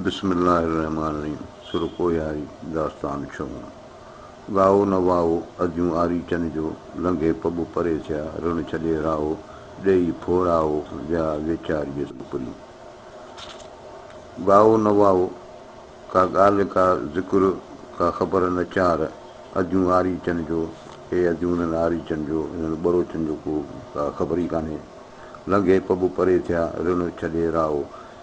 بسم الله الرحمٰن الرحيم سرڪو ياري داستان ڇهون ڳائو نه واهو اديون آري چن جو لنگهي پٻ پري ٿيا رڻ ڇڏي راهو ڏيئي ڦوڙائو ويا ويچاريء سان پرين ڳائو نه واهو ڪا ڳالهه ڪا ذڪر ڪا خبر نه چار اديون آري چن جو اي اديون هنن آري چن جو هنن ٻروچن جو ڪو ڪا خبر ئي ڪانهي لنگهي پٻ پري ٿيا رڻ ڇڏي راهو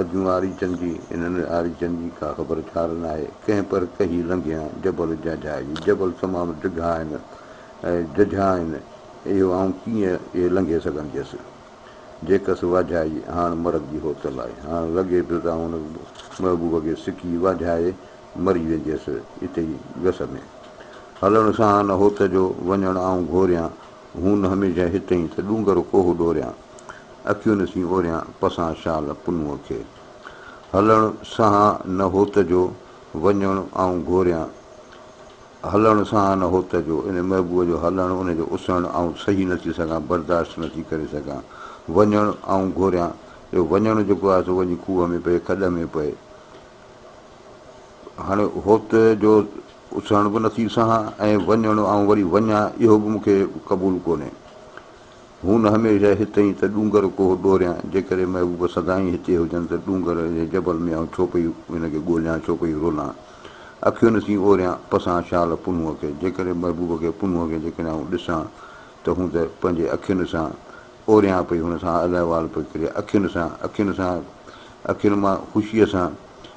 اجهون آريچن جي، انهن آريچن جي ڪا خبر ڇار ناهي، ڪنهن پر ڪهي لنگهيان، جبل جهجها جي، جبل تمام ڊگها آهن، جهجها آهن، اهو آئون ڪيئن اهي لنگهي سگهنديس، جيڪس واجهائي، هاڻ مرڳ جي هوتل آهي، هاڻ لڳي پيو ته آئون ان محبوب کي سڪي واجهائي مري وينديس، اتي ئي گس ۾. هلڻ سان نه هوت جو وڃڻ آئون گهوريان، هون نه هميشه هتئين ته ڏونگر ڪوهه ڏوريان. اکيون نسين اوريان پسان شال پنوء کي. هلڻ سهان نه هوت جو، وڃڻ آئون گهوريان. هلڻ سهان نه هوت جو، ان محبوب جو هلڻ، ان جو اسهڻ آئون سهي نه ٿي سگهان، برداشت نه ٿي ڪري سگهان. وڃڻ آئون گهوريان، اهو وڃڻ جيڪو آهي سو وڃي کوهه ۾ پئي، کڏ ۾ پئي. هاڻي هوت جو اسهڻ به نه ٿي سهان ۽ وڃڻ آئون وري وڃان، اهو به مون کي قبول ڪونهي. هون هميشه هتي ئي ته ڏونگر ڪوهه ڏوريان، جيڪڏهن محبوبه سدائين هتي هجن ته ڏونگر جي جبل ۾ آئون ڇو پئي هن کي ڳوليان، ڇو پئي رولان. اکين سين اوريان پسان شال پنهونء کي، جيڪڏهن محبوبه کي پنهونء کي جيڪڏهن آئون ڏسان ته هون ته پنهنجي اکين سان اوريان پئي هن سان الاحوال پئي ڪري اکين سان اکين سان اکين مان خوشيء سان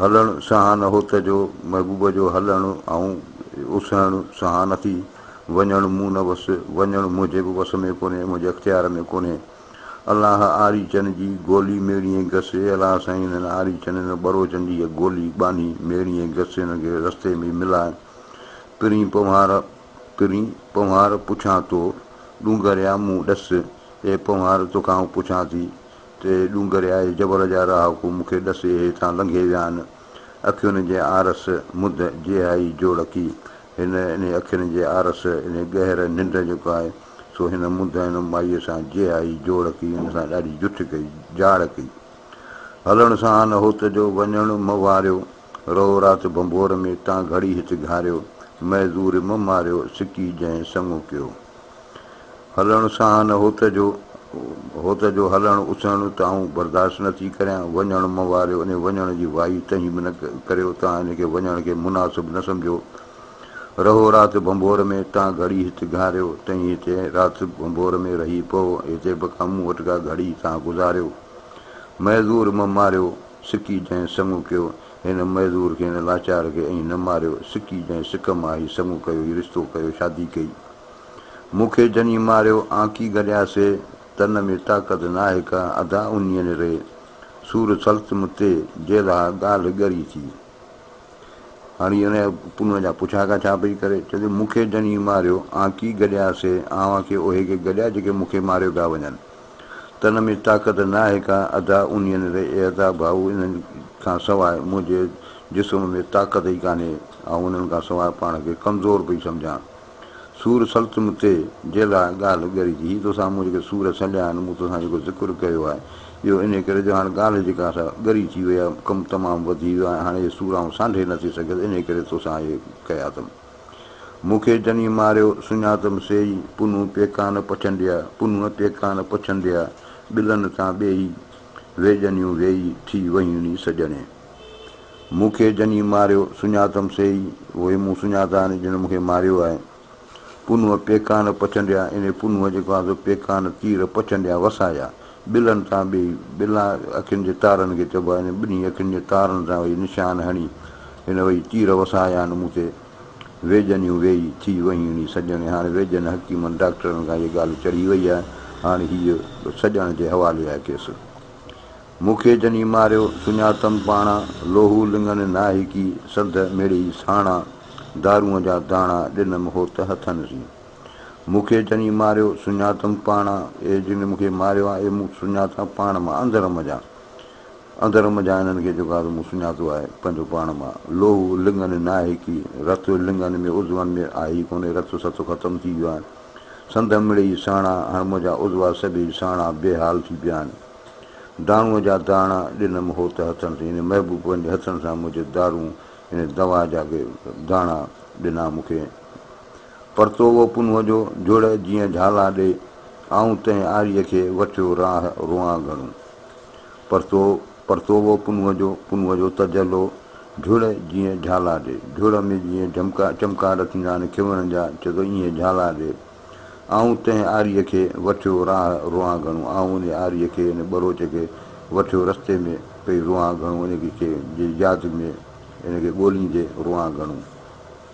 هلڻ سهان هوت جو، محبوب جو هلڻ آئون اسهڻ سهان نٿي، وڃڻ مون نه وس، وڃڻ منهنجي به وس ۾ ڪونهي، منهنجي اختيار ۾ ڪونهي. الله آريچن جي گولي ميڙيئي گس، اي الله سائين هنن آريچن، هنن ٻروچن جي اها گولي ٻانهي ميڙيئي گس، هنن کي رستي ۾ ملاء. پرين پنهوار پرين پنهوار پڇان تو، ڏونگريا مون ڏس، اي پنهوار توکان آئون پڇان ٿي، تي ڏونگر آهي جبر جا رهاڪو مون کي ڏسي هتان لنگهي ويا آهن اکين جي آرس مڌ جيهائي جوڙڪي هن انهي اکين جي آرس انهي گهر ننڊ جيڪو آهي سو هن مڌ هن مائي سان جيهائي جوڙڪي ان سان ڏاڍي جٺ ڪئي جاڙ ڪئي هلڻ سان آن هوت جو وڃڻ م واريو رهو رات ڀنڀور ۾ تان گهڙي هت گهاريو مئي زور م ماريو سڪي جنهن سڱو ڪيو. هلڻ ساهن هوت جو هوت جو هلڻ اسهڻ ته آئون برداشت نه ٿي ڪريان، وڃڻ مه واريو انهي وڃڻ جي وائي تنهين به نه ڪريو تان ان کي وڃڻ کي مناسب نه سمجهو رهو رات ڀنڀور ۾ تان گهڙي هت گهاريو تنهين هتي رات ڀنڀور ۾ رهي پئو هتي به ڪا مون وٽ ڪا گهڙي تان گذاريو مهزور مه ماريو سڪي جنهين سڱو ڪيو هن معذور کي، هن لاچار کي ائين نه ماريو. سڪي جنهن سڪ مان هي سڱو ڪيو، هي رشتو ڪيو، شادي ڪئي. مون کي جني ماريو، آنڪي گڏيا سي، تن ۾ طاقت ناهي ڪا، اڌا انهيء ني ري، سور سلت مون تي، جي لها ڳالهه ڳري ٿي. هاڻي هي انهيء پنهونء جا پڇاڪا ڇا پئي ڪري؟ چوي ٿي، مون کي جني ماريو، آنڪي گڏيا سي، اوهان کي اهي ڪي گڏيا، جيڪي مون کي ماريو پيا وڃن. تن ۾ طاقت ناهي ڪا ادا انين ري اي ادا ڀائو انهن کان سواء منهنجي جسم ۾ طاقت ئي ڪانهي آئون انهن کان سواء پاڻ کي ڪمزور پئي سمجهان سور سلتم تي جي لاء ڳالهه ڳري ٿي هي توسان مون جيڪي سور سليا آهن مون توسان جيڪو ذڪر ڪيو آهي اهو انهي ڪري جو هاڻ ڳالهه جيڪا سا ڳري ٿي وئي آهي ڪم تمام وڌي ويو آهي هاڻ اهي سور آئون سانڍي نٿي سگهيس انهي ڪري توسان اهي ڪيا اٿم. مون کي جني ماريو، سڃاتم سيئي، پنهون پيڪان پڇنڊيا، پنهون پيڪان پڇنڊيا، ٻلن تان ٻيئي، وي جنيون ويئي، ٿي ويون ني سڄڻي. مون کي جني ماريو، سڃاتم سيئي، اهي مون سڃاتا ني جن مون کي ماريو آهي. پنهون پيڪان پڇنڊيا، انهي پنهون جيڪو آهي سو پيڪان، تير، پڇنڊيا، وسايا. ٻلن تان ٻئي ٻلا اکين جي تارن کي چئبو آهي، ٻنهي اکين جي تارن سان وئي نشان هڻي، هن وئي تير وسايان مون تي، ويڄنيون ويئي ٿي وهيڻي سڄڻي، هاڻي ويڄن حڪيمن ڊاڪٽرن کان هيء ڳالهه چڙهي وئي آهي، هاڻي هيء به سڄڻ جي حوالي آهي ڪيس. مون کي جني ماريو، سڃاتم پاڻا، لوهو لڱن ناهڪي، سنڌ مڙئي ساڻا، دارونء جا داڻا ڏنم هوت هٿن سين. مون کي جن ئي ماريو، سڃاتم پاڻ مان. اهي جن مون کي ماريو آهي، اهي مون سڃاتان پاڻ مان، اندر منجهان. اندر منجهان انهن کي جيڪو آهي سو مون سڃاتو آهي، پنهنجو پاڻ مان. لوهه لڱن ناهي ڪي، رت لڱن ۾، عضون ۾ آهي ئي ڪونهي، رت ست ختم ٿي ويو آهي. سنڌ مڙئي ساڻا، هاڻ منهنجا عضوا سڀئي ساڻا، بي حال ٿي پيا آهن. داڻوء جا داڻا ڏنم هوت هٿن سين، انهي محبوب پنهنجي هٿن سان منهنجي دارون، يعني دوا جا داڻا ڏنا مون کي. پرتو اهو پنهون جو جڙ جيئن جهالا ڏي، آئون تنهن آريء کي وٺيو راهه روئان گهڻو. پرتو پرتو اهو پنهون جو پنهون جو تجلو جڙ جيئن جهالا ڏي، جڙ ۾ جيئن جهمڪا چمڪار ٿيندا آهن کيوڻن جا چئه ٿو ايئن جهالا ڏي، آئون تنهن آريء کي وٺيو راهه روئان گهڻو، آئون ان آريء کي ان ٻروچ کي وٺيو رستي ۾ پئي روئان گهڻو، ان کي جي ياد ۾ ان کي ڳوليندي روئان گهڻو.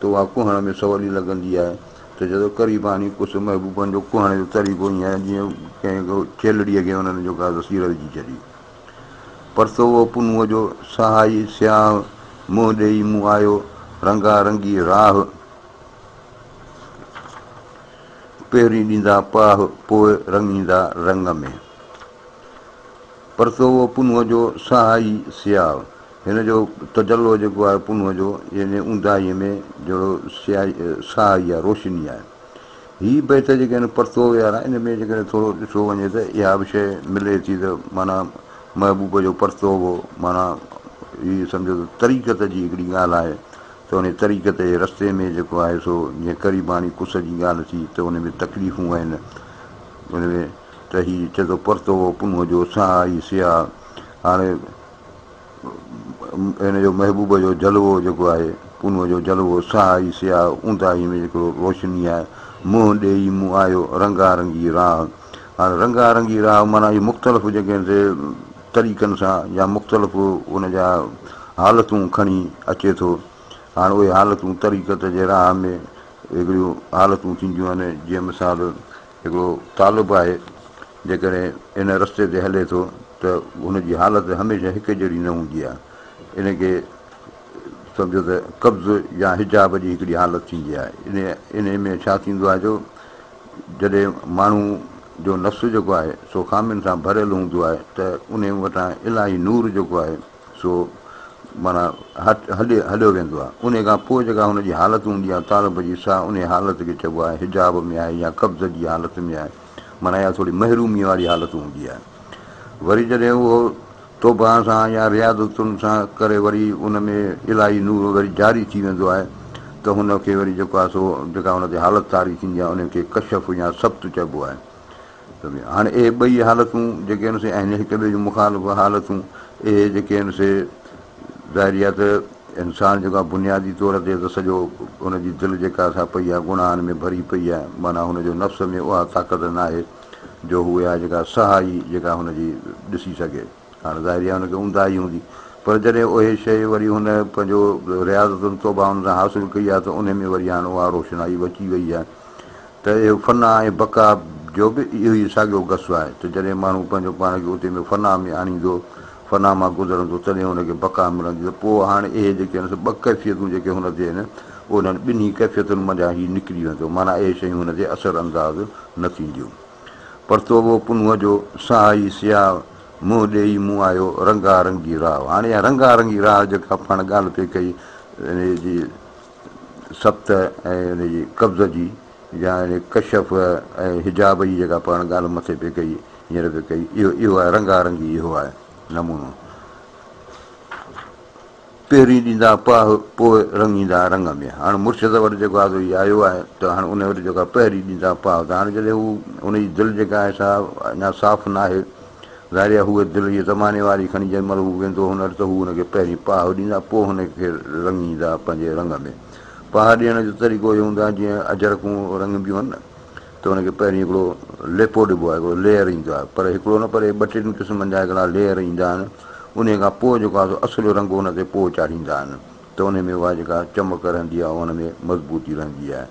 ته اها ڪهڻ ۾ سولي لڳندي آهي ته جدو ڪري باني ڪس محبوبن جو ڪهڻ جو طريقو ائين آهي جيئن ڪنهن ڇيلڙيء کي انهن جو ڪا ذخيره وجهي ڇڏي. پرتو هو پنهونء جو سهائي سياهه منهن ڏيئي مون آيو رنگا رنگي راهه پهرين ڏيندا پاهه پوء رڱيندا رڱ ۾. پرتو هو پنهونء جو سهائي سياهه. هن جو تجلو جيڪو آهي پنهون جو، يعني اونداهيء ۾ جهڙو سياهي، ساهي يا روشني آهي. هي بيت جيڪي آهن پرتوء وارا، ان ۾ جيڪڏهن ٿورو ڏٺو وڃي ته اها به شيء ملي ٿي ته معنيٰ محبوب جو پرتوء هو، معنيٰ هي سمجهو ته طريقت جي هڪڙي ڳالهه آهي ته انهيء طريقت جي رستي ۾ جيڪو آهي سو جيئن قريباڻي ڪس جي ڳالهه ٿي ته ان ۾ تڪليفون آهن، ان ۾ ته هي چئي ٿو پرتوء پنهون جو، ساهي سياهه. هاڻي هن جو محبوب جو جلوو جيڪو آهي، پونء جو جلوو سهائي سياهه اونداهي ۾ جيڪڙو روشني آهي، منهن ڏيئي مون آيو رنگا رنگي راهه. هاڻي رنگا رنگي راهه معنيٰ اهي مختلف جيڪي آهن سي طريقن سان يا مختلف ان جا حالتون کڻي اچي ٿو. هاڻي اهي حالتون طريقت جي راهه ۾ هڪڙيون حالتون ٿينديون آهن جيئن مثال هڪڙو طالب آهي جيڪڏهن ان رستي تي هلي ٿو ته هن جي حالت هميشه هڪ جهڙي نه هوندي آهي. ان کي سمجهو ته قبض يا حجاب جي هڪڙي حالت ٿيندي آهي. انهيء ۾ ڇا ٿيندو آهي جو جڏهن ماڻهو جو نفس جيڪو آهي سو خامين سان ڀريل هوندو آهي ته انهيء وٽان الاهي نور جيڪو آهي سو معنيٰ هٽ هليو ويندو آهي. انهيء کان پوء جيڪا هن جي حالت هوندي آهي طالب جي سا انهيء حالت کي چئبو آهي حجاب ۾ آهي يا قبض جي حالت ۾ آهي معنيٰ اها ٿوري محروميء واري حالت هوندي آهي وري جڏهن اهو توبه سان يا رياضتن سان ڪري وري ان ۾ الاهي نور وري جاري ٿي ويندو آهي ته هن کي وري جيڪو آهي سو جيڪا هن تي حالت طاري ٿيندي آهي انهيء کي ڪشف يا سبط چئبو آهي هاڻي اهي ٻئي حالتون جيڪي آهن سي آهن هڪ ٻئي جون مخالف حالتون. اهي جيڪي آهن سي ظاهري آهي ته انسان جيڪو آهي بنيادي طور تي ته سڄو هن جي دل جيڪا سا پئي آهي گناهن ۾ ڀري پئي آهي معنيٰ هن جو نفس ۾ اها طاقت ناهي جو هو اها جيڪا سهائي جيڪا هن جي ڏسي سگهي. هاڻ ظاهري آهي ان کي اونداهي هوندي پر جڏهن اهي شيء وري هن پنهنجو رياضتن توبائن سان حاصل ڪئي آهي ته انهي ۾ وري هاڻ اها روشنائي به اچي وئي آهي ته اهو فنا ۽ بقا جو به اهوئي ساڳيو قصو آهي ته جڏهن ماڻهو پنهنجو پاڻ کي اتي ۾ فنا ۾ آڻيندو فنا مان گذرندو تڏهن ان کي بقا ملندي ته پوء هاڻ اهي جيڪي آهن سي ٻه ڪيفيتون جيڪي هن تي آهن انهن ٻنهي ڪيفيتن منجهان هي نڪري ويندو معنيٰ اهي شيون هن تي اثر انداز نه ٿينديون پر توبو پنهونء جو سهائي سياهه منهن ڏيئي مون آيو رنگا رنگي راء. هاڻي اها رنگا رنگي راء جيڪا پاڻ ڳالهه پئي ڪئي ان جي سبت ۽ ان جي قبض جي يا ان ڪشف ۽ حجاب جي جيڪا پاڻ ڳالهه مٿي پئي ڪئي هينئر پئي ڪئي اهو اهو آهي رنگا رنگي اهو آهي نمونو. پهرين ڏيندا پاهه پوء رڱيندا رڱ ۾. هاڻ مرشد وٽ جيڪو آدو هي آيو آهي ته هاڻ ان وٽ جيڪو آهي پهرين ڏيندا پاهه ته هاڻ جڏهن هو ان جي دل جيڪا آهي سا اڃا صاف ناهي ظاهر هي هوء دل هيء زماني واري کڻي جنهن مهل هو ويندو هن وٽ ته هو هن کي پهرين پاهه ڏيندا پوء هن کي رڱيندا پنهنجي رڱ ۾. پاهه ڏيڻ جو طريقو اهو هوندو آهي جيئن اجرڪون رڱبيون آهن نه ته ان کي پهرين هڪڙو ليپو ڏبو آهي، هڪڙو ليئر ايندو آهي، پر هڪڙو نه پر ٻه ٽن قسمن جا هڪڙا ليئر ايندا آهن، انهي کان پوء جيڪو آهي سو اصل رنگ ان تي پوء چاڙهيندا آهن ته انهي ۾ اها جيڪا چمڪ رهندي آهي ان ۾ مضبوطي رهندي آهي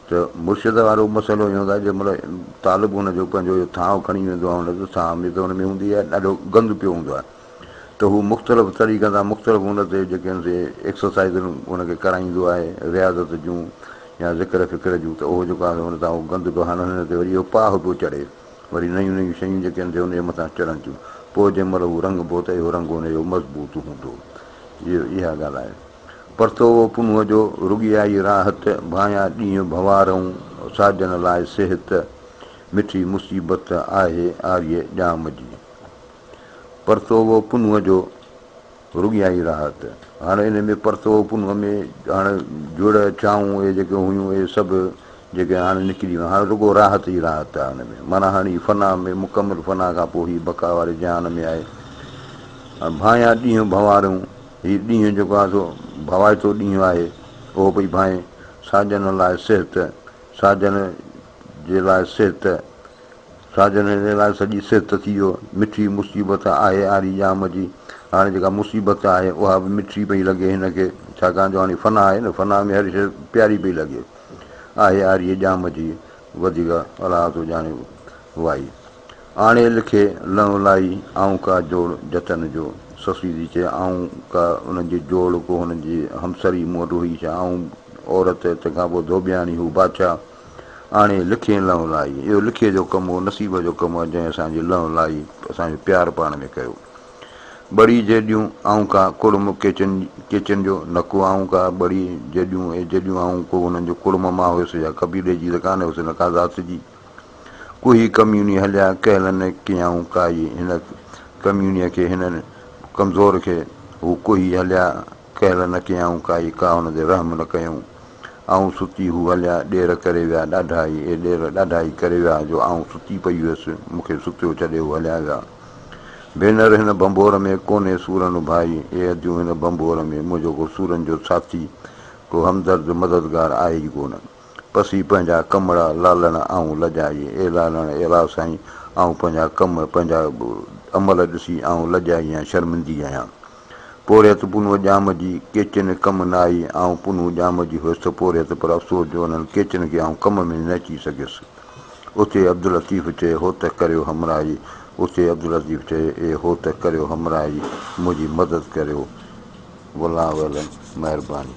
ته مرشد وارو مسئلو اهي هوندو آهي جنهن مهل طالب ان جو پنهنجو اهو ٿانو کڻي ويندو آهي ان جو ساهه ۾ ته ان ۾ هوندي آهي ڏاڍو گند پيو هوندو آهي. ته هو مختلف طريقن سان مختلف ان تي جيڪي هن سي ايڪسرسائيزن هن کي ڪرائيندو آهي رياضت جون يا ذڪر فڪر جون ته اهو جيڪو آهي هن سان اهو گند پيو هڻن هن تي وري اهو پاهه پيو چڙهي وري نيون نيون شيون جيڪي هن تي ان جي مٿان چڙهن ٿيون پوء جنهن مهل هو رنگ بو ته اهو رنگ هن جو مضبوط هوندو اهي اها ڳالهه آهي پر تو او پنهونء جو رڳيائي راحت ڀانيان ڏينهن ڀنوارئون ساجن لاء صحت مٺي مصيبت آهي آريء ڄام جي. پرتوء و پنهونء جو رڳيائين راحت. هاڻ انهيء ۾ پرتوء و پنهونء ۾ هاڻ جڙ، چانهون اهي جيڪي هيون اهي سڀ جيڪي هاڻ نڪري ويون. هاڻ رڳو راحت ئي راحت آهي ان ۾. معنيٰ هاڻ هي فنا ۾ مڪمل فنا کان پوء هي بقا واري جهان ۾ آهي. هاڻ ڀانئيان ڏينهن ڀنواريون. هي ڏينهن جيڪو آهي سو ڀوائتو ڏينهن آهي. اهو پئي ڀانئي. ساجن لاء صحت، ساجن جي لاء صحت. ساجن هن لاء سڄي سرت ٿي جو مٺي مصيبت آهي آري ڄام جي. هاڻي جيڪا مصيبت آهي اها به مٺي پئي لڳي هن کي ڇاڪاڻ جو هاڻي فنا آهي نه فنا ۾ هر شيء پياري پئي لڳي. آهي آري ڄام جي وڌيڪ الاهه ٿو ڄاڻي وائي آڻي لکي لنء لائي آئون ڪا جوڙ جتن جو سسي ٿي چئي آئون ڪا انهن جي جوڙ ڪو هن جي همسر ئي مون وٽ هئي ڇا آئون عورت تنهن کان پوء ڌوٻياڻي هو بادشاهه آڻي لکي لئون لائي. اهو لکي جو ڪم اهو نصيب جو ڪم آ جنهن اسان جي لئون لائي، اسان جو پيار پاڻ ۾ ڪيو. ٻڙي جيڏيون آئون ڪا ڪڙم ڪيچن ڪيچن جو، نه ڪو آئون ڪا ٻڙي جيڏيون ۽ جيڏيون آئون ڪو انهن جو ڪڙم مان هيس يا قبيلي جي ته ڪانه هيس نه ڪا ذات جي. ڪوهي ڪميوني هليا ڪهلن نه ڪيائون ڪائي هن ڪميونيء کي هن ڪمزور کي هو ڪوهي هليا. ڪهل نه ڪيائون ڪائي ڪا هن تي رحم نه ڪيائون آئون ستي هو هليا ڏير ڪري ويا ڏاڍا هي اي ڏير ڏاڍا هي ڪري ويا جو آئون ستي پئي هيس مون کي ستيو ڇڏي هو هليا ويا ڀينر هن ڀنڀور ۾ ڪونهي سورن ڀائي اي اديون هن ڀنڀور ۾ منهنجو ڪو سورن جو ساٿي ڪو همدرد مددگار آهي ئي ڪونه پسي پنهنجا ڪمڙا لالڻ آئون لڄائي اي لالڻ الا سائين آئون پنهنجا ڪم پنهنجا عمل ڏسي آئون لڄائي ۽ شرمندي آهيان پورهيت پنهون ڄام جي، ڪيچن ڪم نه آئي، آئون پنهون ڄام جي هيس ته پورهيت، پر افسوس جو انهن ڪيچن کي آئون ڪم ۾ نه اچي سگهيس. اتي عبداللطيف چئي هو ته ڪريو همراهي، اتي عبداللطيف چئي اي هو ته ڪريو همراهي، منهنجي مدد ڪريو، والله اعلم، مهرباني.